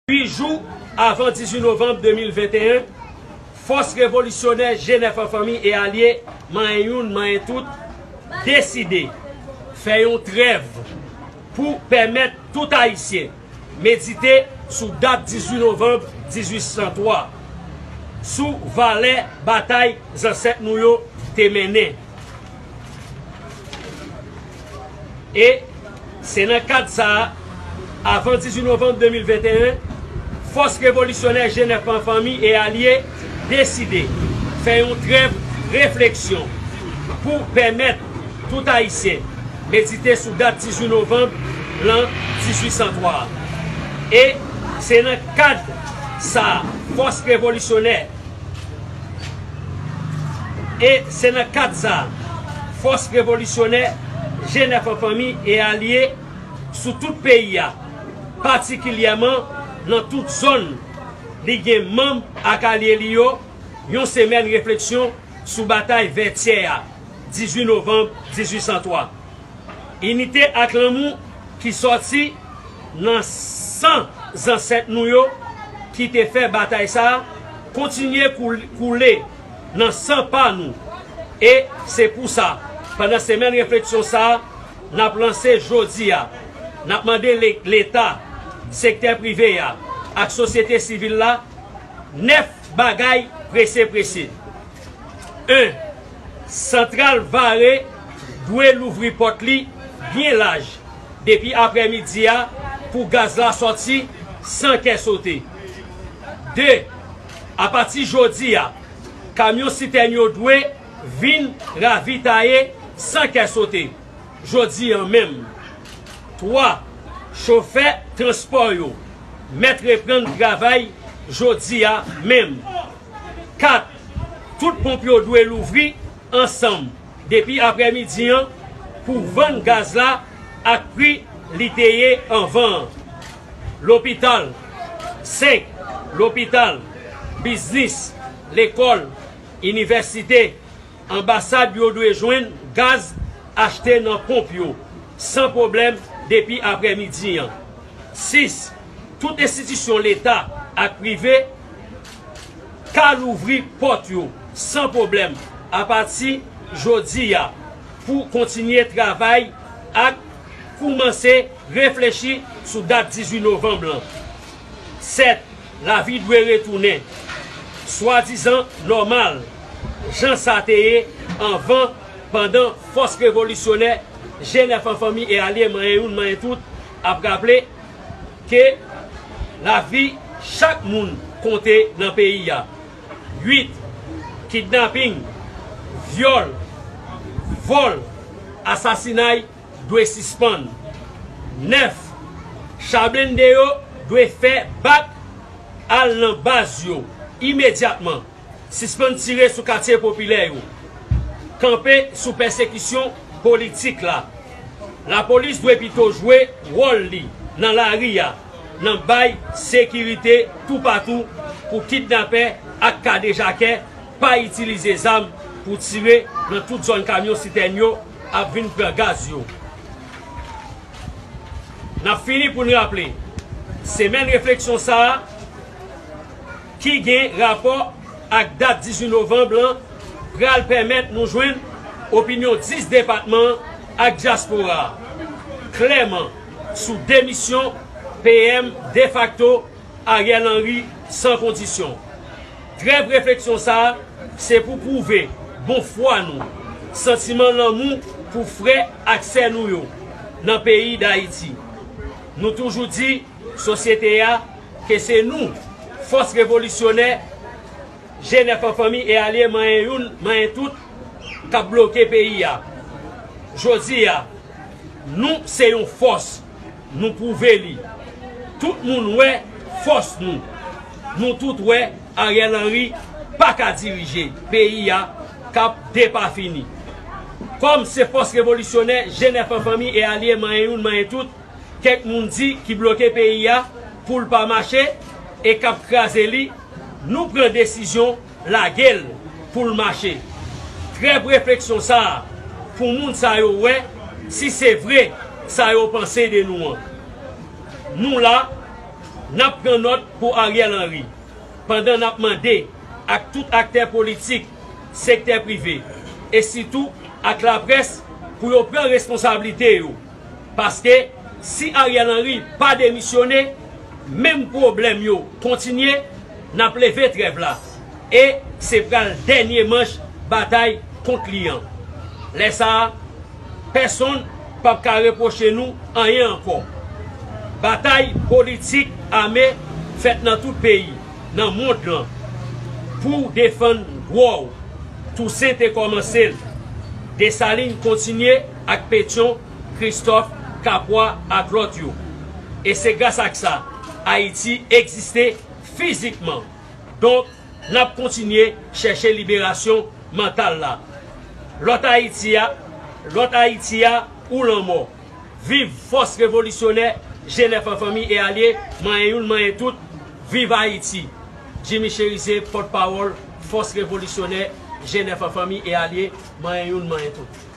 8 jou avan 18 novanm 2021, fòs revolisyonè Jenèf an fanmi e alye, manyen youn, manyen tout, deside fè yon trèv pou pèmèt tout Ayisyen medite sou dat 18 novanm 1803, sou valè batay zansèt nou yo te mennen. E se nan kad sa a, avan 18 novanm 2021, fòs revolisyonè Jenèf an fanmi e alye deside fè yon trèv refleksyon pou pèmèt tout Ayisyen medite sou dat 18 novanm lan 1803 a. E se nan kad sa a, fòs revolisyonè. E se nan kad sa a, fòs revolisyonè Jenèf an fanmi e alye sou tout peyi a, patikilyèman nan tout zòn li gen manm ak alye li yo, yon semèn refleksyon sou batay Vètyè a, 18 novanm 1803. Inite ak lanmou ki sòti. Nan san zansèt nou yo ki te fè batay sa a kontinye koule nan san pa nou. E se pou sa, pandan semèn refleksyon sa a, n ap lanse jodi a, n ap mande Leta, sektè prive a ak sosyete sivil la 9 bagay prese prese. 1. Santral Vare dwe louvri pòt li byen laj Depi aprè midi a pou gaz la sòti san kè sote. 2, Apati jodi a, kamyon sitèn yo dwe vin ravitaye san kè sote, jodi an menm. 3, Chofè transpò yo mèt reprann travay jodi a menm. 4, Tout ponp yo dwe louvri ansanm. depi aprè midi an pou vann gaz la ak pri li te ye anvan an. Lopital, 5 lopital, biznis, lekòl, inivèsite, anbasad yo dwe jwenn gaz achte nan ponp yo san pwoblèm depi aprè midi an. 6 tout enstitisyon leta ak prive, ka louvri pòt yo san pwoblèm apati jodi a pou kontinye travay ak koumanse reflechi sou dat 18 novanm lan. Sèt, lavi dwe retounen swadizan nòmal jan sa te ye anvan pandan fòs revolisyonè Jenèf an fanmi e alye manyen youn manyen tout ap raple, Ke lavi chak moun konte nan peyi a. 8, Kidnaping, vyòl, vòl, asasinay dwe sispann. 9, Cha blende yo dwe fè bak al nan baz yo imedyatman. Sispann tire sou katye popilè yo. Kanpe sou pèsekisyon politik la. Lapolis dwe pito jwe wòl li nan lari a nan bay sekirite toupatou pou kidnapè ak kadejakè pa itilize zam pou tire nan tout zòn kamyon sitèn yo ap vin pran gaz yo. N ap fini pou n raple, semèn refleksyon sa a, ki gen rapò ak dat 18 novanb lan pral pèmèt nou jwenn opinyon 10 depatman an ak dyaspora a klèman sou demisyon PM defakto Ariel Henry san kondisyon. Trèv refleksyon sa a se pou pwouve bon fwa nou, santiman lanmou pou frè ak sè nou yo nan peyi Dayiti. Nou toujou di. Sosyete a, ke se nou, fòs revolisyonè, G9 an fanmi e alye manyen youn, manyen tout, k ap bloke peyi a. Jodi a, nou se yon fòs, nou pwouve li. Tout moun wè fòs nou. Nou tout wè Ariel Henry pa ka dirije peyi a k ap depafini. Kòm se fòs revolisyonè, G9 an fanmi e alye manyen youn, manyen tout, Kèk moun di ki bloke peyi a poul pa mache e kap kraze li nou pran desizyon lagel poul mache trèb refleksyon sa pou moun sa yo wè si se vre sa yo panse de nou an nou la nap pran nòt pou Ariel Henry pandan nap mande ak tout aktè politik sektè prive e sitou ak laprès pou yo pran responsablite yo. Paske si Ariel Henry pa demisyone menm pwoblèm yo kontinye nap leve trèv la e se pral dènye manch batay kont li an. Lè sa a pèsonn pap ka repwoche nou anyen ankò. Batay politik ame fèt nan tout peyi nan mond lan pou defann dwa w. Tousen te kòmanse l. Desalin kontinye. ak Petion, Christophe, Capois ak lòt yo. E se gras ak sa Ayiti egziste fizikman. Donk, n ap kontinye chèche liberasyon mantal la. Lòt Ayiti a, lòt Ayiti a ou lanmò. Viv fòs revolisyonè Jenèf an fanmi e alye, manyen youn manyen tout, viv Ayiti! Jimmy Chérizier, pòtpawòl fòs revolisyonè Jenèf an fanmi e alye, manyen youn manyen tout.